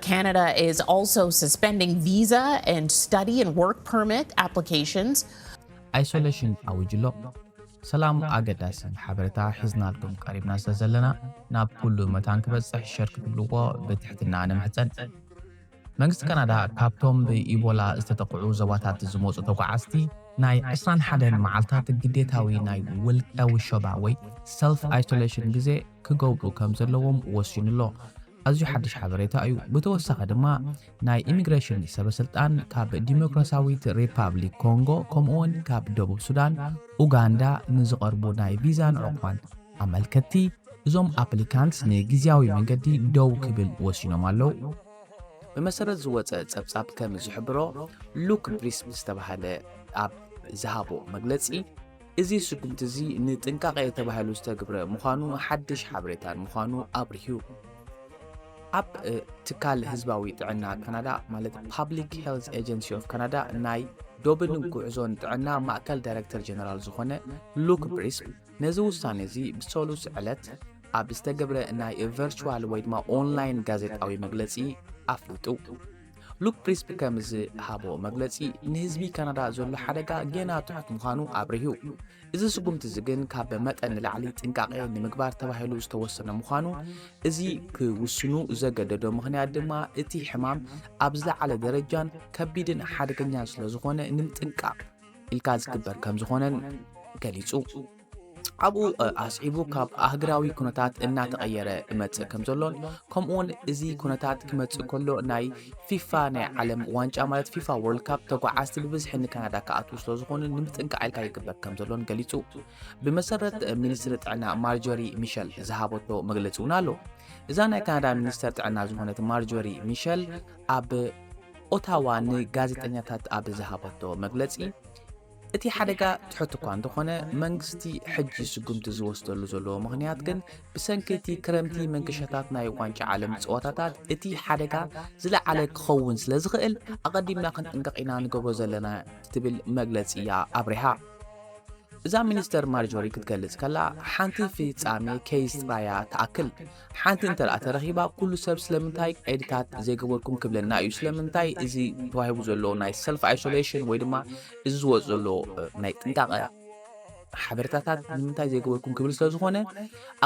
Canada is also suspending visa and study and work permit applications. ኣይሶለሽን ኣዊጁ ኣሎ። ሰላም ኣገዳሲ ሓበረታ ሒዝናልኩም ቀሪብና ስለ ዘለና ናብ ኩሉ መታን ክበጽሕ ሸር ክትብልዎ ብትሕትና ንምሕጸን። መንግስቲ ካናዳ ካብቶም ብኢቦላ ዝተጠቕዑ ዞባታት ዝመጹ ተጓዓዝቲ ናይ 21 መዓልታት ግዴታዊ ናይ ውልቀ ውሸባ ወይ ሰልፍ ኣይሶሌሽን ግዜ ክገብሩ ከም ዘለዎም ወሲኑ ኣሎ። ኣዝዩ ሓድሽ ሓበሬታ እዩ። ብተወሳኺ ድማ ናይ ኢሚግሬሽን ሰበስልጣን ካብ ዲሞክራሲያዊት ሪፓብሊክ ኮንጎ ከምኡ'ውን ካብ ደቡብ ሱዳን፣ ኡጋንዳ ንዝቐርቡ ናይ ቪዛን ዑቕባን ኣመልከትቲ እዞም ኣፕሊካንትስ ንግዝያዊ መንገዲ ደው ክብል ወሲኖም ኣለዉ። ብመሰረት ዝወጸ ጸብጻብ ከም ዝሕብሮ፣ ሉክ ብሪስብ ዝተባህለ ኣብ ዝሃቦ መግለጺ፣ እዚ ስጉምቲ እዚ ንጥንቃቄ ተባሂሉ ዝተግብረ ምዃኑ ሓድሽ ሓበሬታን ምዃኑ ኣብሪሁ። ኣብ ትካል ህዝባዊ ጥዕና ካናዳ ማለት ፓብሊክ ሄልዝ ኤጀንሲ ኦፍ ካናዳ ናይ ዶብን ጉዕዞን ጥዕና ማእከል ዳይረክተር ጀነራል ዝኾነ ሉክ ብሪስክ ነዚ ውሳኔ እዚ ብሰሉስ ዕለት ኣብ ዝተገብረ ናይ ቨርቹዋል ወይ ድማ ኦንላይን ጋዜጣዊ መግለጺ ኣፍሊጡ። ሉክ ፕሪስፕ ከም ዝሃቦ መግለጺ፣ ንህዝቢ ካናዳ ዘሎ ሓደጋ ጌና ትሑት ምዃኑ ኣብሪሁ። እዚ ስጉምቲ እዚ ግን ካብ መጠን ንላዕሊ ጥንቃቄ ንምግባር ተባሂሉ ዝተወሰነ ምዃኑ፣ እዚ ክውስኑ ዘገደዶ ምኽንያት ድማ እቲ ሕማም ኣብ ዝለዓለ ደረጃን ከቢድን ሓደገኛን ስለዝኾነ ንምጥንቃቕ ኢልካ ዝግበር ከምዝኾነን ገሊጹ። ኣብኡ ኣስዒቡ ካብ ኣህግራዊ ኩነታት እናተቐየረ እመጽእ ከም ዘሎን ከምኡውን እዚ ኩነታት ክመጽእ ከሎ ናይ ፊፋ ናይ ዓለም ዋንጫ ማለት ፊፋ ወርልድ ካፕ ተጓዓዝቲ ብብዝሒ ንካናዳ ክኣትዉ ስለ ዝኾኑ ንምጥንቃዕ ኢልካ ይግበር ከም ዘሎን ገሊጹ ብመሰረት ሚኒስትሪ ጥዕና ማርጆሪ ሚሸል ዝሃበቶ መግለጺ እውን ኣሎ እዛ ናይ ካናዳ ሚኒስተር ጥዕና ዝኾነት ማርጆሪ ሚሸል ኣብ ኦታዋ ንጋዜጠኛታት ኣብ ዝሃበቶ መግለጺ እቲ ሓደጋ ትሑት እኳ እንተኾነ መንግስቲ ሕጂ ስጉምቲ ዝወስደሉ ዘለዎ ምኽንያት ግን ብሰንኪ እቲ ክረምቲ መንገሻታት ናይ ዋንጫ ዓለም ጸወታታት እቲ ሓደጋ ዝለዓለ ክኸውን ስለ ዝኽእል ኣቐዲምና ክንጥንቀቕ ኢና ንገብሮ ዘለና ክትብል መግለጺ እያ ኣብሪሃ። እዛ ሚኒስተር ማርጆሪ ክትገልጽ ከላ ሓንቲ ፍጻሜ ኬይስ ጥራይ እያ ትኣክል። ሓንቲ እንተደኣ ተረኺባ ኩሉ ሰብ ስለምንታይ ቐይድታት ዘይገበርኩም ክብለና እዩ። ስለምንታይ እዚ ተዋሂቡ ዘሎ ናይ ሰልፍ ኣይሶሌሽን ወይ ድማ እዚ ዝወፅ ዘሎ ናይ ጥንቃቐ ሓበሬታታት ንምንታይ ዘይገበርኩም ክብል ስለ ዝኾነ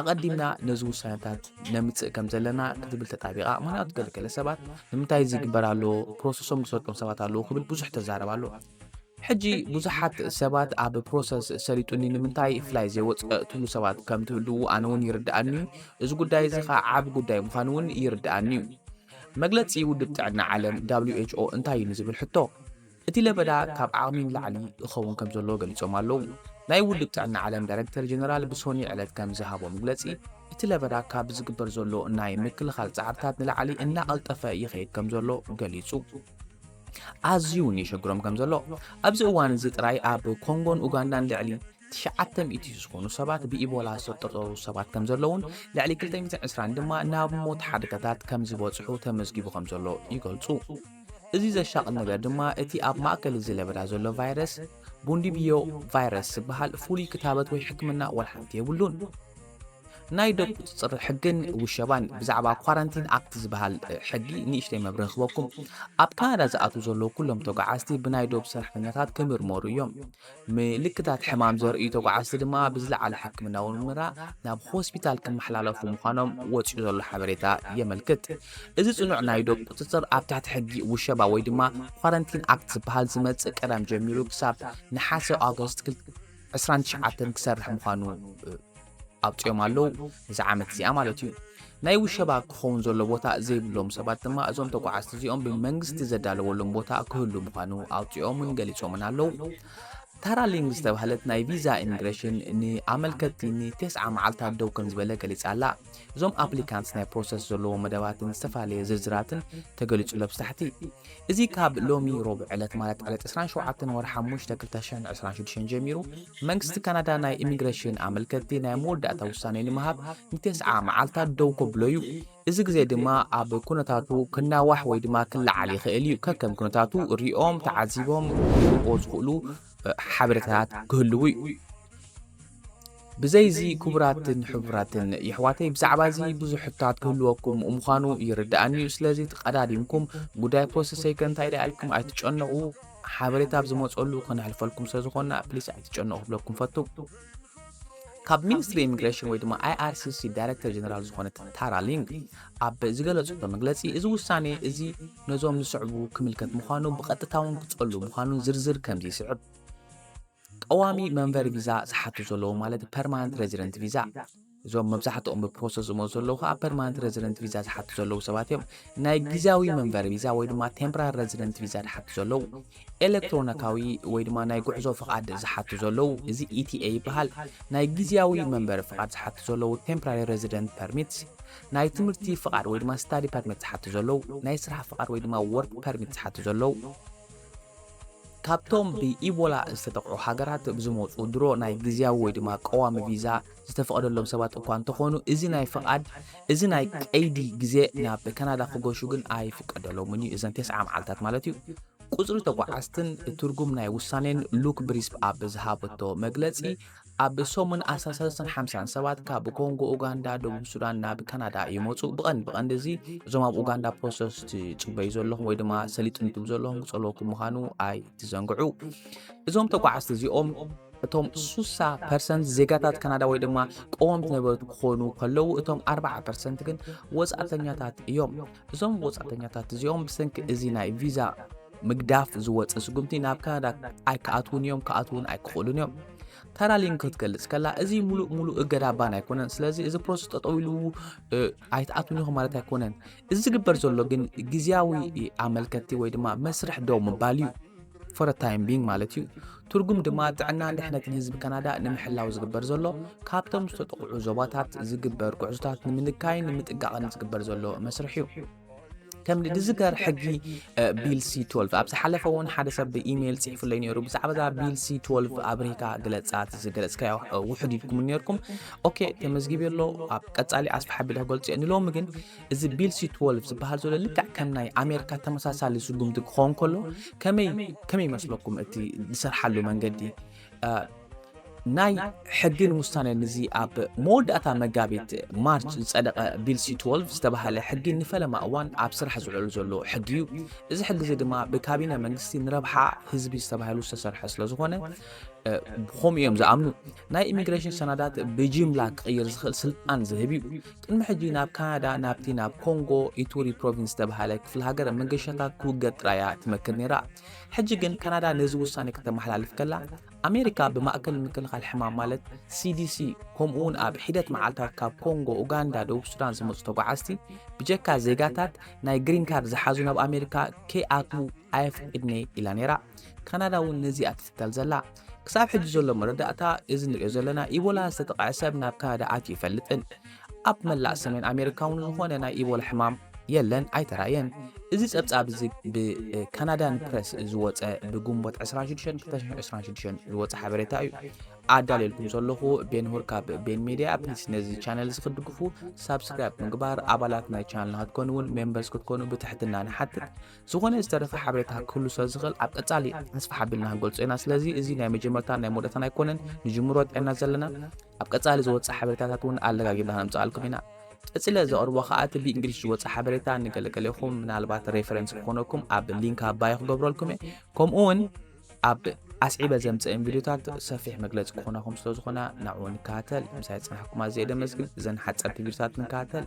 ኣቐዲምና ነዚ ውሳነታት ነምፅእ ከም ዘለና ክትብል ተጣቢቓ ምክንያቱ ገለገለ ሰባት ንምንታይ እዚ ይግበር ኣሎ ፕሮሰሶም ዝሰልጦም ሰባት ኣለዉ ክብል ብዙሕ ተዛረብ ኣሎ። ሕጂ ብዙሓት ሰባት ኣብ ፕሮሰስ ሰሊጡኒ ንምንታይ ፍላይ ዘይወፅእ ትብሉ ሰባት ከም ትህልዉ ኣነ እውን ይርድኣኒ እዩ እዚ ጉዳይ እዚ ከዓ ዓብ ጉዳይ ምዃኑ እውን ይርድኣኒ እዩ መግለፂ ውድብ ጥዕና ዓለም who እንታይ እዩ ንዝብል ሕቶ እቲ ለበዳ ካብ ዓቕሚ ንላዕሊ ይኸውን ከም ዘሎ ገሊፆም ኣለዉ ናይ ውድብ ጥዕና ዓለም ዳይረክተር ጀነራል ብሶኒ ዕለት ከም ዝሃቦ መግለፂ እቲ ለበዳ ካብ ዝግበር ዘሎ ናይ ምክልኻል ፃዕርታት ንላዕሊ እናቐልጠፈ ይኸይድ ከም ዘሎ ገሊፁ ኣዝዩ እውን የሸግሮም ከም ዘሎ ኣብዚ እዋን እዚ ጥራይ ኣብ ኮንጎን ኡጋንዳን ልዕሊ ትሽዓተ ሚእቲ ዝኾኑ ሰባት ብኢቦላ ዝተጠርጠሩ ሰባት ከም ዘለውን ልዕሊ 220 ድማ ናብ ሞት ሓደጋታት ከም ዝበፅሑ ተመዝጊቡ ከም ዘሎ ይገልፁ። እዚ ዘሻቕል ነገር ድማ እቲ ኣብ ማእከል እዚ ለበዳ ዘሎ ቫይረስ ቡንዲብዮ ቫይረስ ዝበሃል ፍሉይ ክታበት ወይ ሕክምና ዋላ ሓንቲ የብሉን። ናይ ዶብ ቁጽጽር ሕግን ውሸባን ብዛዕባ ኳራንቲን ኣክት ዝበሃል ሕጊ ንእሽተይ መብርሂ ክበኩም። ኣብ ካናዳ ዝኣትዉ ዘለዉ ኩሎም ተጓዓዝቲ ብናይ ዶብ ሰራሕተኛታት ክምርመሩ እዮም። ምልክታት ሕማም ዘርእዩ ተጓዓዝቲ ድማ ብዝለዓለ ሕክምናዊ ምርመራ ናብ ሆስፒታል ክመሓላለፉ ምዃኖም ወጺኡ ዘሎ ሓበሬታ የመልክት። እዚ ጽኑዕ ናይ ዶብ ቁጽጽር ኣብ ትሕቲ ሕጊ ውሸባ ወይ ድማ ኳረንቲን ኣክት ዝበሃል ዝመጽእ ቀዳም ጀሚሩ ክሳብ ነሓሰ፣ August፣ ዕስራን ትሽዓተን ክሰርሕ ምዃኑ ኣውጺኦም ኣለዉ፣ እዛ ዓመት እዚኣ ማለት እዩ። ናይ ውሸባ ክኸውን ዘሎ ቦታ ዘይብሎም ሰባት ድማ እዞም ተጓዓዝቲ እዚኦም ብመንግስቲ ዘዳለወሎም ቦታ ክህሉ ምዃኑ ኣውጺኦምን ገሊጾምን ኣለዉ። ታራሊንግ ዝተባህለት ናይ ቪዛ ኢሚግሬሽን ንኣመልከትቲ ንቴስዓ መዓልታት ደው ከም ዝበለ ገሊጻ ኣላ። እዞም ኣፕሊካንትስ ናይ ፕሮሰስ ዘለዎም መደባትን ዝተፈላለየ ዝርዝራትን ተገሊጹ ኣብ ታሕቲ። እዚ ካብ ሎሚ ሮቡዕ ዕለት ማለት ዕለት 27 ወርሒ ሓሙሽተ 2026 ጀሚሩ መንግስቲ ካናዳ ናይ ኢሚግሬሽን ኣመልከትቲ ናይ መወዳእታ ውሳኔ ንምሃብ ንቴስዓ መዓልታት ደው ከብሎ እዩ። እዚ ግዜ ድማ ኣብ ኩነታቱ ክናዋሕ ወይ ድማ ክለዓል ይኽእል እዩ። ከከም ኩነታቱ ሪኦም ተዓዚቦም ክህቡዎ ዝኽእሉ ሓበሬታታት ክህልዉ እዩ። ብዘይ እዚ ክቡራትን ሕቡራትን የሕዋተይ ብዛዕባ እዚ ብዙሕ ሕቶታት ክህልወኩም ምዃኑ ይርድኣኒ እዩ። ስለዚ ተቐዳዲምኩም ጉዳይ ፖስት ሰይከ እንታይ ደኣ ኢልኩም ኣይትጨነቑ። ሓበሬታ ኣብ ዝመጸሉ ከነሕልፈልኩም ስለ ዝኾንና ፕሊስ ኣይትጨነቑ ክብለኩም ፈቱ። ካብ ሚኒስትሪ ኢሚግሬሽን ወይ ድማ IRCC ዳይሬክተር ጀነራል ዝኾነት ታራ ሊንግ ኣብ ዝገለጽቶ መግለጺ እዚ ውሳኔ እዚ ነዞም ዝስዕቡ ክምልከት ምዃኑ ብቐጥታውን ክጸሉ ምዃኑን ዝርዝር ከምዚ ይስዕብ ቀዋሚ መንበሪ ቪዛ ዝሓቱ ዘለዉ ማለት ፐርማነንት ሬዚደንት ቪዛ እዞም መብዛሕትኦም ብፕሮሰስ ዝመፁ ዘለዉ ከዓ ፐርማነንት ረዚደንት ቪዛ ዝሓቱ ዘለዉ ሰባት እዮም። ናይ ግዝያዊ መንበሪ ቪዛ ወይ ድማ ቴምፕራሪ ረዚደንት ቪዛ ዝሓቱ ዘለዉ፣ ኤለክትሮኒካዊ ወይ ድማ ናይ ጉዕዞ ፍቓድ ዝሓቱ ዘለዉ፣ እዚ ETA ይበሃል፣ ናይ ግዝያዊ መንበሪ ፍቓድ ዝሓቱ ዘለዉ፣ ቴምፕራሪ ረዚደንት ፐርሚትስ፣ ናይ ትምህርቲ ፍቓድ ወይ ድማ ስታዲ ፐርሚት ዝሓቱ ዘለዉ፣ ናይ ስራሕ ፍቓድ ወይ ድማ ወርክ ፐርሚት ዝሓቱ ዘለዉ። ካብቶም ብኢቦላ ዝተጠቕዑ ሃገራት ብዝመፁ ድሮ ናይ ግዝያዊ ወይ ድማ ቀዋሚ ቪዛ፣ ዝተፈቐደሎም ሰባት እኳ እንተኾኑ እዚ ናይ ፍቓድ እዚ ናይ ቀይዲ ግዜ ናብ ካናዳ ክገሹ ግን ኣይፍቀደሎምን እዩ እዘን ቴስዓ መዓልታት ማለት እዩ ቁፅሪ ተጓዓዝትን ትርጉም ናይ ውሳኔን ሉክ ብሪስፕ ኣብ ዝሃበቶ መግለፂ ኣብ ሰሙን ኣስራ ሰለስተን ሓምሳን ሰባት ካብ ኮንጎ ኡጋንዳ ደቡብ ሱዳን ናብ ካናዳ ይመፁ ብቐንድ ብቐንዲ እዚ እዞም ኣብ ኡጋንዳ ፕሮሰስ ትፅበዩ ዘለኹም ወይ ድማ ሰሊጥንቱም ዘለኹም ክፀለወኩም ምዃኑ ኣይትዘንግዑ እዞም ተጓዓዝቲ እዚኦም እቶም ሱሳ ፐርሰንት ዜጋታት ካናዳ ወይ ድማ ቀወምቲ ነበርቲ ክኾኑ ከለዉ እቶም ኣርባዓ ፐርሰንት ግን ወጻእተኛታት እዮም። እዞም ወጻእተኛታት እዚኦም ብሰንኪ እዚ ናይ ቪዛ ምግዳፍ ዝወጸ ስጉምቲ ናብ ካናዳ ኣይክኣትዉን እዮም፣ ክኣትዉን ኣይክኽእሉን እዮም። ታራሊን ክትገልጽ ከላ እዚ ሙሉእ ሙሉእ እገዳ ባን ኣይኮነን። ስለዚ እዚ ፕሮሰስ ጠጠው ኢሉ ኣይትኣትዉን ኢኹም ማለት ኣይኮነን። እዚ ዝግበር ዘሎ ግን ግዝያዊ ኣመልከቲ ወይ ድማ መስርሕ ደው ምባል እዩ። for a time being ማለት እዩ። ትርጉም ድማ ጥዕናን ድሕነትን ህዝቢ ካናዳ ንምሕላው ዝግበር ዘሎ ካብቶም ዝተጠቕዑ ዞባታት ዝግበር ጉዕዞታት ንምንካይን ንምጥጋቕን ዝግበር ዘሎ መስርሕ እዩ። ከም ዝዝከር ሕጊ ቢል ሲ 12 ኣብ ዝሓለፈ እውን ሓደ ሰብ ብኢሜይል ፅሒፉለይ ነይሩ ብዛዕባ እዛ ቢል ሲ 12 ኣብሪካ ግለፃት ዝገለፅካዮ ውሕድ ኢልኩም ነርኩም ኦኬ ተመዝጊብ ኣሎ ኣብ ቀፃሊ ኣስፋሓ ቢል ክገልፅ እየ ንሎሚ ግን እዚ ቢል ሲ ትወልቭ ዝበሃል ዘሎ ልክዕ ከም ናይ ኣሜሪካ ተመሳሳሊ ስጉምቲ ክኸውን ከሎ ከመይ ከመይ ይመስለኩም እቲ ዝሰርሓሉ መንገዲ ናይ ሕግን ውሳነን እዚ ኣብ መወዳእታ መጋቢት ማርች ዝፀደቐ ቢልሲ 12 ዝተባሃለ ሕጊ ንፈለማ እዋን ኣብ ስራሕ ዝውዕሉ ዘሎ ሕጊ እዩ እዚ ሕጊ እዚ ድማ ብካቢነ መንግስቲ ንረብሓ ህዝቢ ዝተባሃሉ ዝተሰርሐ ስለ ዝኾነ ብከምኡ እዮም ዝኣምኑ ናይ ኢሚግሬሽን ሰናዳት ብጅምላ ክቕይር ዝኽእል ስልጣን ዝህብ እዩ ቅድሚ ሕጂ ናብ ካናዳ ናብቲ ናብ ኮንጎ ኢቱሪ ፕሮቪንስ ዝተብሃለ ክፍለ ሃገር መገሻታት ክውገድ ጥራይ እያ ትመክር ነይራ። ሕጂ ግን ካናዳ ነዚ ውሳነ ከተመሓላልፍ ከላ፣ ኣሜሪካ ብማእከል ምክልኻል ሕማም ማለት ሲዲሲ ከምኡ'ውን ኣብ ሒደት መዓልታት ካብ ኮንጎ፣ ኡጋንዳ፣ ደቡብ ሱዳን ዝመጹ ተጓዓዝቲ ብጀካ ዜጋታት ናይ ግሪን ካርድ ዝሓዙ ናብ ኣሜሪካ ከይኣትዉ ኣይፍቅድን'የ ኢላ ነይራ። ካናዳ እውን ነዚ እያ ትትከል ዘላ። ክሳብ ሕጂ ዘሎ መረዳእታ እዚ ንሪኦ ዘለና ኢቦላ ዝተጠቕዐ ሰብ ናብ ካናዳ ኣትዩ ይፈልጥን ኣብ መላእ ሰሜን ኣሜሪካ እውን ዝኾነ ናይ ኢቦላ ሕማም የለን ኣይተራየን እዚ ጸብጻብ እዚ ብካናዳን ፕረስ ዝወፀ ብግንቦት 2626 ዝወፀ ሓበሬታ እዩ ኣዳልየልኩም ዘለኹ ቤንሁር ካብ ቤን ሜድያ ፕሊስ ነዚ ቻነል እዚ ክትድግፉ ሳብስክራይብ ምግባር ኣባላት ናይ ቻነልና ክትኮኑ እውን ሜምበርስ ክትኮኑ ብትሕትና ንሓትት ዝኾነ ዝተረፈ ሓበሬታ ክህሉ ስለ ዝኽእል ኣብ ቀጻሊ ኣስፋሕ ኣቢልና ክንገልጾ ኢና። ስለዚ እዚ ናይ መጀመርታን ናይ መወዳእታን ኣይኮነን፣ ንጅምሮ ጥዕና ዘለና ኣብ ቀጻሊ ዝወጽእ ሓበሬታታት እውን ኣለጋጊብና ክነምጽኣልኩም ኢና። ቀጺለ ዘቕርቦ ከኣ እቲ ብእንግሊሽ ዝወጽእ ሓበሬታ ንገለገሌኹም ምናልባት ሬፈረንስ ክኾነኩም ኣብ ሊንክ ኣባይ ክገብረልኩም እየ ከምኡ እውን ኣብ ኣስዒበ ዘምፅእን ቪድዮታት ሰፊሕ መግለፂ ክኾነኹም ስለ ዝኾነ ናብኡ ንከታተል ምሳይ ፅናሕኩም ኣዘየ ደመስግን እዘን ሓፀርቲ ቪድዮታት ንከታተል